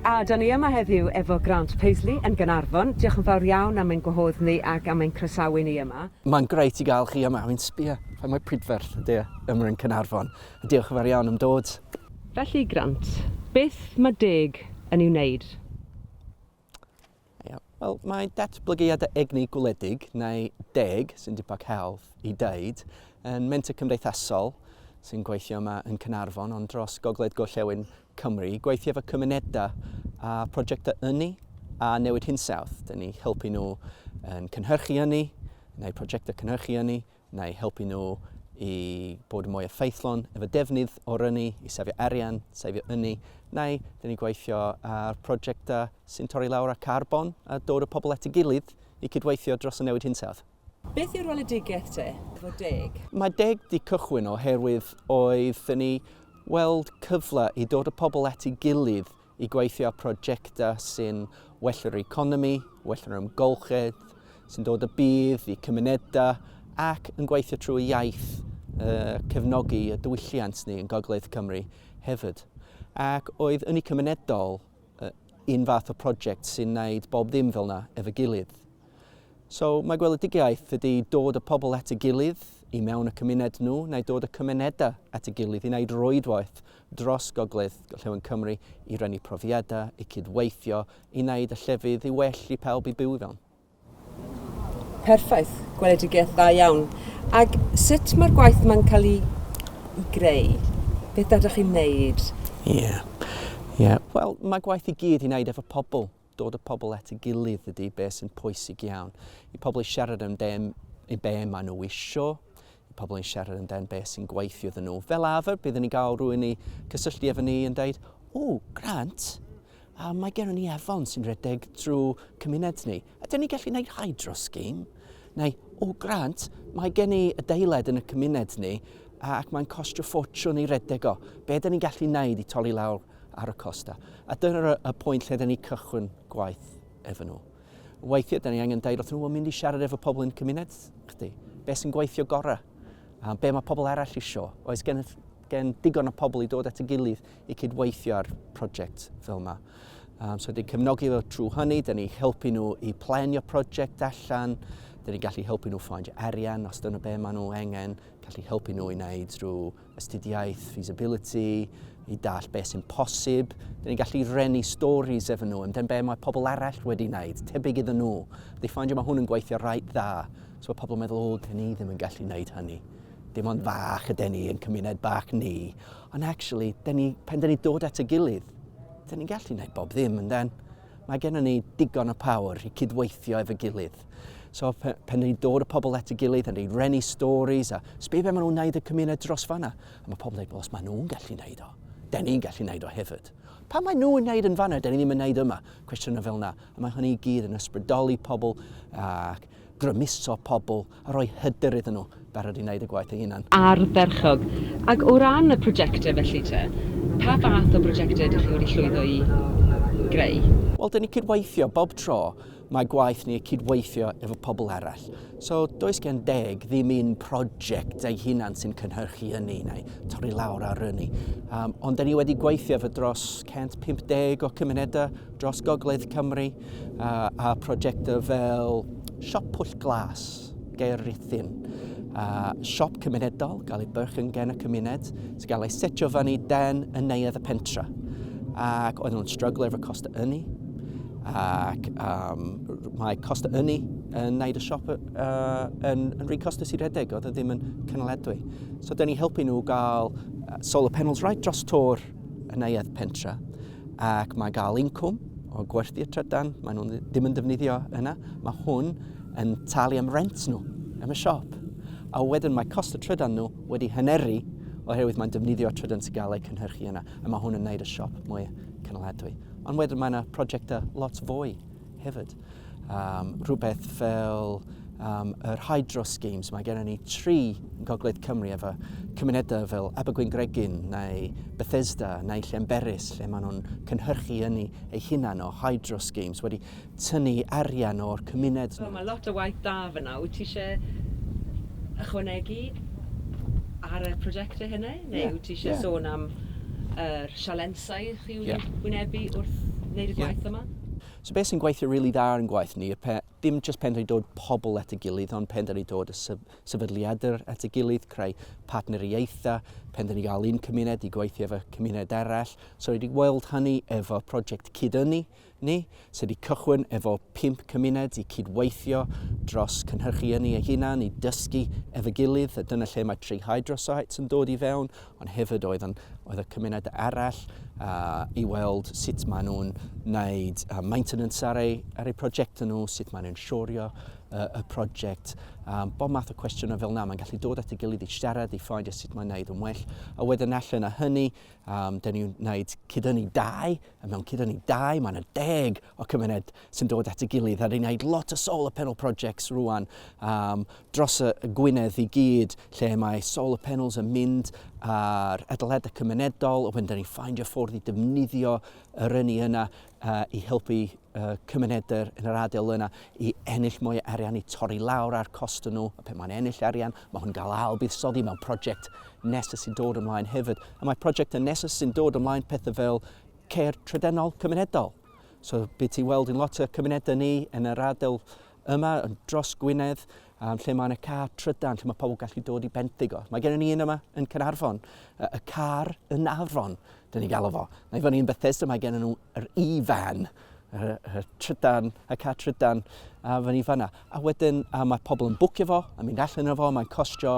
A dan ni yma heddiw efo Grant Paisley yn Gaernarfon. Diolch yn fawr iawn am ein gwahodd ni ac am ein croesawu ni yma. Mae'n grêt i gael chi yma. Fi'n sbio, faint mor prydferth ydy e yma yn Caernarfon. A diolch yn fawr iawn am dod. Felly, Grant, beth mae deg yn ei wneud? Wel, mae datblygiadau egni gwledig, neu deg, sy'n dipag helf i ddeud, yn menter cymdeithasol sy'n gweithio yma yn Cynarfon, ond dros gogledd gorllewin Cymru, gweithio efo cymunedau a prosiectau ynni a newid hinsawdd. Dyn ni helpu nhw yn cynhyrchu ynni, neu prosiectau cynhyrchu ynni, neu helpu nhw i bod yn mwy effeithlon efo defnydd o'r ynni, i sefio arian, sefio ynni, neu dyn ni'n gweithio ar prosiectau sy'n torri lawr ar carbon a dod o pobl at ei gilydd i cydweithio dros y newid hinsawdd. Beth yw rweledigaeth te, efo deg? Mae deg di cychwyn oherwydd oedd ni weld cyfle i dod o pobl at ei gilydd i gweithio ar prosiectau sy'n well yr economi, well yr ymgolchedd, sy'n dod y bydd i cymunedau ac yn gweithio trwy iaith uh, cefnogi y diwylliant ni yn Gogledd Cymru hefyd. Ac oedd yn y cymunedol uh, un fath o prosiect sy'n gwneud bob ddim fel yna efo gilydd. So mae gweledigaeth ydy dod y pobl at y gilydd i mewn y cymuned nhw, neu dod y cymunedau at y gilydd i wneud rwydwaith dros Gogledd Gorllewin Cymru i rannu profiadau, i cydweithio, i wneud y llefydd i well i pawb i byw i fewn. Perffaith, gweledigaeth dda iawn. Ac sut mae'r gwaith yma'n cael ei, ei greu? Beth ydych chi'n wneud? Ie, yeah. yeah. wel mae gwaith i gyd i wneud efo pobl. Dod y pobl at ei gilydd ydy be sy'n pwysig iawn. I pobl i siarad am be, i be maen nhw isio, i pobl yn siarad am dan be sy'n gweithio iddyn nhw. Fel arfer, byddwn ni'n cael rhywun i cysylltu efo ni yn dweud, o, grant, a mae gennym ni afon sy'n rhedeg drwy cymuned ni. A dyn ni'n gallu gwneud hydro scheme, neu, o, grant, mae gen i adeilad yn y cymuned ni, ac mae'n costio ffortiwn i redeg o. Be dyn ni'n gallu gwneud i torri lawr ar y costa. A dyna y pwynt lle da ni cychwyn gwaith efo nhw. Weithiau, da ni angen dweud wrth nhw, mynd i siarad efo pobl yn cymuned, chdi. Be sy'n gweithio gorau? A be mae pobl arall isio? Oes gen, gen digon o pobl i dod at y gilydd i cydweithio ar prosiect fel yma? Um, so, dwi'n cefnogi fo trwy hynny, da ni helpu nhw i planio prosiect allan, da ni gallu helpu nhw ffaindio arian os dyna be maen nhw angen, gallu helpu nhw i wneud rhyw astudiaeth feasibility, i dall beth sy'n posib. Dyn ni'n gallu renu stories efo nhw, amdano be mae pobl arall wedi wneud, tebyg iddyn nhw. Dwi'n ffaindio mae hwn yn gweithio rhaid dda. So mae pobl yn meddwl, o, dyn ni ddim yn gallu wneud hynny. Dim ond fach ydy ni yn cymuned bach ni. Ond actually, dyn ni, pan dyn ni dod at y gilydd, dyn ni'n gallu wneud bob ddim, ynddo? Mae gennym ni digon o power i cydweithio efo'i gilydd. So pe, pen ni'n dod y pobl at y gilydd yn ei rennu stories a sbi fe maen nhw'n wneud y cymuned dros fanna. A mae pobl yn dweud, os maen nhw'n gallu wneud o, den ni'n gallu wneud o hefyd. Pa maen nhw'n wneud yn fanna, den ni ddim yn wneud yma? Cwestiynau fel yna. A mae hynny i gyd yn ysbrydoli pobl ac grymuso pobl a rhoi hyder iddyn nhw, barod i wneud y gwaith eu hunain. Ardderchog. Ac o ran y prosiectau felly te, pa fath o brosiectau ydych chi wedi llwyddo i greu? Wel, dan ni'n cydweithio, bob tro mae gwaith ni cydweithio efo pobl arall. So, does gen deg ddim un prosiect ei hunan sy'n cynhyrchu ynni neu torri lawr ar ynni. Um, ond da ni wedi gweithio efo dros 150 o cymunedau dros Gogledd Cymru a, a prosiectau fel Siop Pwll Glas, Gair Rhithyn, a siop cymunedol, gael ei byrch yn gen y cymuned, sy'n gael ei setio fyny den yn neuadd y pentra. Ac oedd nhw'n stryglo efo cost y ynni, ac um, mae cost y ynni yn neud y siop uh, yn, yn rhy costus i redeg, oedd e ddim yn cynaledwy. So, dyn ni helpu nhw gael solar panels right dros tor y neuadd pentra. ac mae gael incwm o gwerthu'r trydan, mae nhw'n ddim yn defnyddio yna, mae hwn yn talu am rent nhw yn y siop. A wedyn mae cost y trydan nhw wedi hyneru oherwydd mae'n defnyddio trydan sy'n gael eu cynhyrchu yna, a mae hwn yn gwneud y siop mwy cynaliadwy. Ond wedyn mae yna prosiectau lot fwy hefyd. Um, rhywbeth fel um, yr hydro schemes. Mae gennym ni tri gogledd Cymru efo cymunedau fel Abergwyn Gregin neu Bethesda neu Llemberis lle maen nhw'n cynhyrchu yn ei hunan o hydro schemes wedi tynnu arian o'r cymuned. So, mae lot o waith da fyna. Wyt ti eisiau ychwanegu ar y prosiectau hynny? Neu wyt ti eisiau sôn am yr sialensau chi wedi wynebu wrth wneud y gwaith yma? So beth sy'n gweithio rili dda ar ein gwaith ni, dim jyst penderfynu dod pobl at ei gilydd, ond penderfynu dod y sefydliadau at ei gilydd, creu partneriaethau, penderfynu gael un cymuned i gweithio efo cymuned arall. So wedi weld hynny efo project Cyd-ynni. Ni sydd wedi cychwyn efo pump cymuned i cyd-weithio dros cynhyrchu ynni eu hunain i dysgu efo'i gilydd, a dyna lle mae Tri Hydrosites yn dod i fewn, ond hefyd oedd yn, oedd y cymuned arall uh, i weld sut maen nhw'n wneud uh, maintenance ar eu, ar eu prosiectau nhw, sut maen nhw'n siorio uh, y prosiect, um, bob math o cwestiynau fel yna. Mae'n gallu dod at ei gilydd i siarad, i ffeindio sut mae'n wneud yn well, a wedyn allan o hynny, um, dyn ni'n wneud cydynnu dau mewn cyd â ni dau, mae yna deg o cymuned sy'n dod at ei gilydd a ni'n gwneud lot o solar panel projects rwan um, dros y, y Gwynedd i gyd lle mae solar panels yn mynd ar adeladau cymunedol a wedyn da ni'n ffeindio ffordd i defnyddio yr ynni yna uh, i helpu uh, cymunedau yn yr adael yna i ennill mwy o arian i torri lawr ar cost nhw a pe mae'n ennill arian Mae hwn yn cael ail fuddsoddi mewn prosiect nesaf sy'n dod ymlaen hefyd. A mae prosiectau nesaf sy'n dod ymlaen pethau fel ceir trydenol cymunedol. So bydd ti weld yn lot o cymunedau ni yn yr ardal yma, yn dros Gwynedd, um, lle mae yna car trydan, lle mae pobl gallu dod i benthyg o. Mae gennym ni un yma yn Cynarfon, y car yn Afon, dyn ni'n galw fo. Mae fyny yn Bethesda, mae gennym nhw'r e-van. y trydan, y car trydan, a fan i fanna. A wedyn, a mae pobl yn bwcio fo, a mynd allan o fo, mae'n costio,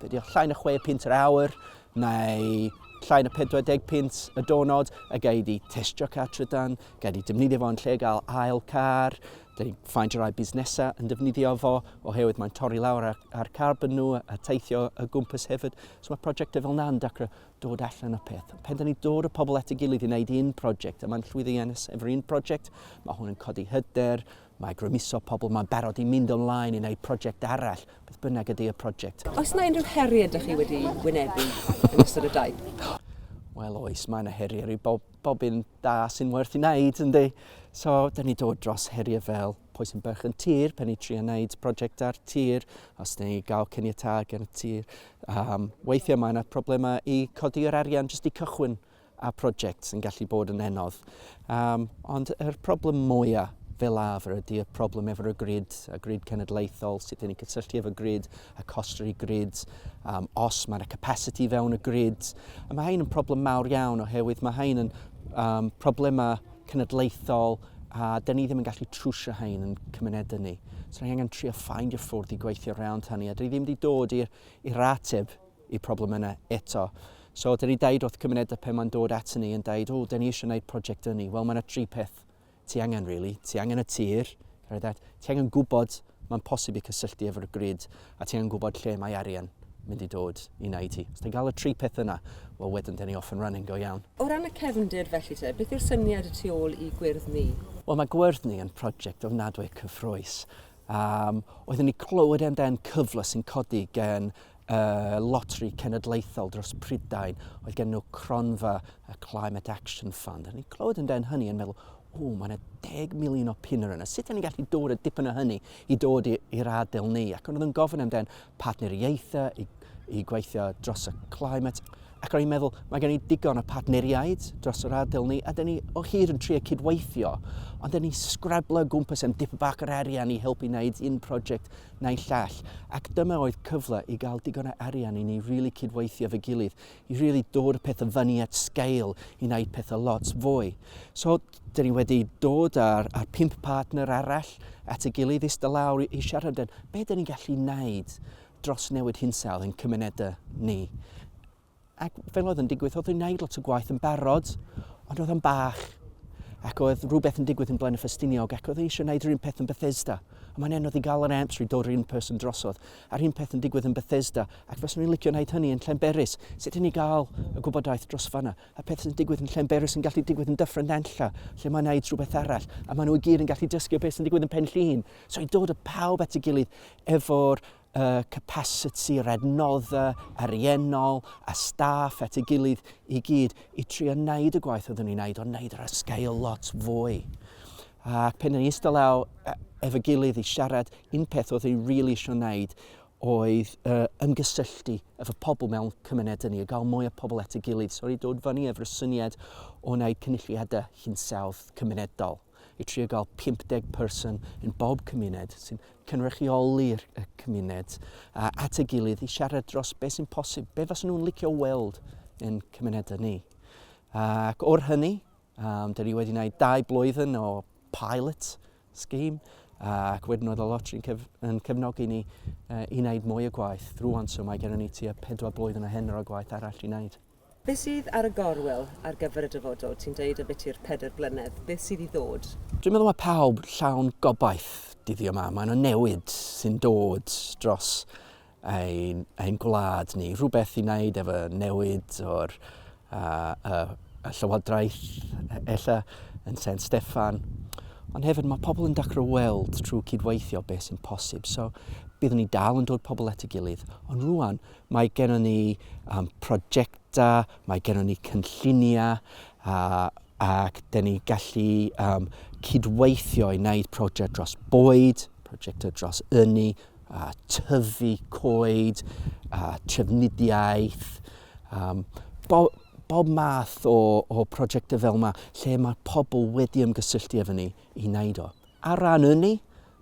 be diolch, llain y 6 pint yr awr, neu llain y 40 pint y donod, a gael di testio car trydan, gael di defnyddio fo yn lle gael ail car, Dyn ni'n ffaint o rai busnesau yn defnyddio fo oherwydd mae'n torri lawr ar, ar carbon nhw a teithio y gwmpas hefyd. So mae prosiectau fel yna'n dacro. dod allan o peth. Pen da ni dod o pobl at y gilydd i wneud un prosiect, a mae'n llwyddiannus efo'r un prosiect, mae hwn yn codi hyder, mae grymuso pobl, mae'n barod i mynd ymlaen i wneud prosiect arall, beth bynnag ydy y prosiect. Oes mae unrhyw heriau ydych chi wedi wynebu yn ystod y daith? Wel oes, mae yna heriau i bob, bob un da sy'n werth i wneud, ynddi. So, da ni dod dros heriau fel pwy sy'n byrch yn tir pen i trio wneud prosiect ar tir, os neu gael cyniatau gan y tir. Um, weithiau mae yna problemau i codi yr arian jyst i cychwyn a prosiect sy'n gallu bod yn enodd. Um, ond yr problem mwyaf fel arfer ydy y problem efo'r grid, y grid cenedlaethol, sut ni'n cysylltu efo grid, y costri grid, um, os mae yna capacity fewn y grid. A mae hyn yn problem mawr iawn oherwydd mae hyn yn um, problemau cenedlaethol a dyn ni ddim yn gallu trwsio hein yn cymunedau ni. So ni angen trio ffaindio ffwrdd i gweithio rownd hynny a dyn ni ddim wedi dod i'r ateb i problem yna eto. So dyn ni dweud wrth cymunedau pe mae'n dod at ni yn dweud, o, dyn ni eisiau gwneud prosiect ynni. Wel, mae yna tri peth ti angen, really. Ti angen y tir, Rhaid at, ti angen gwybod mae'n posib i cysylltu efo'r grid a ti angen gwybod lle mae arian mynd i dod i wneud i ti. Os ti'n cael y tri peth yna, wel wedyn dyn ni off and running go iawn. O ran y cefndir felly te, beth yw'r syniad y tu ôl i gwyrdd ni? Wel mae gwyrdd ni yn prosiect ofnadwy cyffroes. Um, oeddwn ni clywed amdan cyfle sy'n codi gen y Loteri Cenedlaethol dros Prydain, oedd gen nhw cronfa y Climate Action Fund. A ni'n clywed yn den hynny yn meddwl, o, mae yna deg miliwn o piner yna. Sut ni'n gallu dod y dipyn o hynny i dod i'r adael ni? Ac oedd yn gofyn am den partneriaethau i, i gweithio dros y climate. Ac o'n i'n meddwl, mae gen i digon o partneriaid dros yr adael ni, a dyn ni o hyd yn trio cydweithio, ond dyn ni sgrablo gwmpas am dip bach yr arian i helpu wneud un prosiect naill llall, ac dyma oedd cyfle i gael digon o arian i ni really cydweithio fy gilydd, i really dod y pethau fyny at scale, i wneud pethau lot fwy. So, dyn ni wedi dod ar, ar pimp partner arall at y gilydd i sta lawr i, i siarad yn be dyn ni'n gallu wneud dros newid hinsawdd yn cymunedau ni. Ac fel oedd yn digwydd, oedd yn wneud lot o gwaith yn barod, ond oedd yn bach. Ac oedd rhywbeth yn digwydd yn Blaen y Ffestiniog, ac oedd eisiau gwneud yr un peth yn Bethesda. A mae'n anodd i gael yr amser i dod yr un person drosodd. A'r un peth yn digwydd yn Bethesda, ac fes ni'n licio wneud hynny yn Llenberis. Sut i ni gael y gwybodaeth dros fanna? A peth sy'n digwydd yn Llenberis yn gallu digwydd yn dyffryn nenlla, lle mae'n wneud rhywbeth arall. A maen nhw i gyd yn gallu dysgu o beth sy'n digwydd yn Pen Llun. So i dod y pawb at y gilydd efo'r y capasiti yr adnoddau ariennol a staff at ei gilydd i gyd i trio wneud y gwaith oeddwn ni'n wneud, ond wneud ar sgael lot fwy. Ac pen yn eistedd law e, efo gilydd i siarad, un peth oedd ei rili really eisiau wneud oedd uh, ymgysylltu efo pobl mewn cymunedau ni, a gael mwy o pobl at ei gilydd. So i dod fyny efo'r syniad o wneud cynulliadau hinsawdd cymunedol. i trio gael 50 person yn bob cymuned sy'n cynrychioli'r cymuned at ei gilydd i siarad dros beth sy'n posib, beth fas nhw'n licio weld yn cymunedau ni. Ac o'r hynny, um, dyn ni wedi gwneud dau blwyddyn o pilot scheme ac wedyn oedd y lotri'n cyf yn cefnogi ni uh, i wneud mwy o gwaith. Rwan, so mae gennym ni tua pedwar blwyddyn o hyn o gwaith arall i wneud. Beth sydd ar y gorwel ar gyfer y dyfodol? Ti'n deud y bydd i'r pedair blynedd. Beth sydd i ddod? Dwi'n meddwl mae pawb llawn gobaith dyddiau yma. Mae yna newid sy'n dod dros ein, ein gwlad ni. Rhywbeth i wneud efo newid o'r uh, uh, y llywodraeth, e-, ella yn Sen Steffan. Ond hefyd mae pobl yn dechrau weld trwy cydweithio beth sy'n posib. So byddwn ni dal yn dod pobl at y gilydd, ond rwan Mae gennym ni um, prosiectau, mae gennym ni cynlluniau a, ac dyn ni gallu um, cydweithio i wneud prosiect dros bwyd, prosiectau dros ynni, a tyfu coed, a trefnidiaeth, um, bo, bob math o, o prosiectau fel yma lle mae pobl wedi ymgysylltu efo ni i wneud o. Ar ran ynni,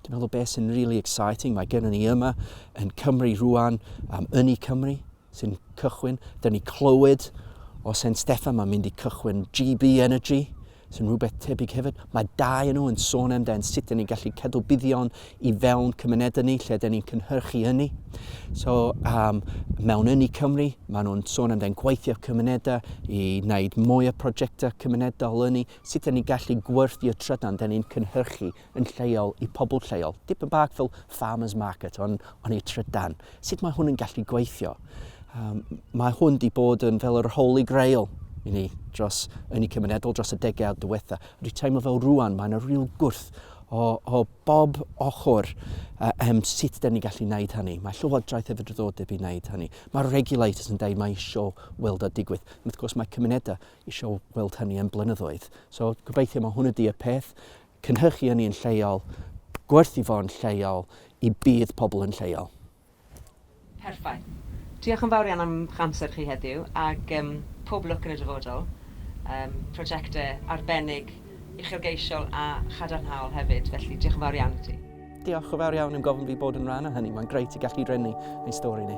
dwi'n meddwl beth sy'n really exciting, mae gennym ni yma yn Cymru rwan am um, ynni Cymru sy'n cychwyn. Dyna ni clywed o Sen Steffan, mae'n mynd i cychwyn GB Energy, sy'n rhywbeth tebyg hefyd. Mae dau yn nhw yn sôn amdano sut ni'n gallu cadw buddion i fewn cymunedau ni lle dyn ni'n cynhyrchu ynni. So, um, mewn ynni Cymru, maen nhw'n sôn amdano gweithio cymunedau i wneud mwy o prosiectau cymunedol ynni sut dan ni'n gallu gwerthu'r trydan dan ni'n cynhyrchu yn lleol i pobl lleol. Dipyn bach fel farmer's market ond on ei trydan. Sut mae hwn yn gallu gweithio? Um, mae hwn di bod yn fel yr holy grail i ni dros yn y cymunedol dros y degawd diwetha. Rwy teimlo fel rwan mae yna rhyw gwrth o, o bob ochr uh, um, sut da ni gallu wneud hynny. Mae llywodraeth hefyd yn ddod i wneud hynny. Mae'r regulators yn dweud mae eisiau weld o digwydd. Wrth gwrs mae cymunedau isio weld hynny am blynyddoedd. So gobeithio mae hwn ydy y peth, cynhyrchu hynny yn lleol, gwerthu fo'n lleol, i bydd pobl yn lleol. Perffaith. Diolch yn fawr iawn am ych amser chi heddiw, ac um, pob lwc yn y dyfodol. Um, prosiectau arbennig, uchelgeisiol a chadarnhaol hefyd, felly diolch yn fawr iawn i ti. Diolch yn fawr iawn am gofyn fi bod yn rhan o hynny, mae'n greu i gallu rhennu ein stori ni.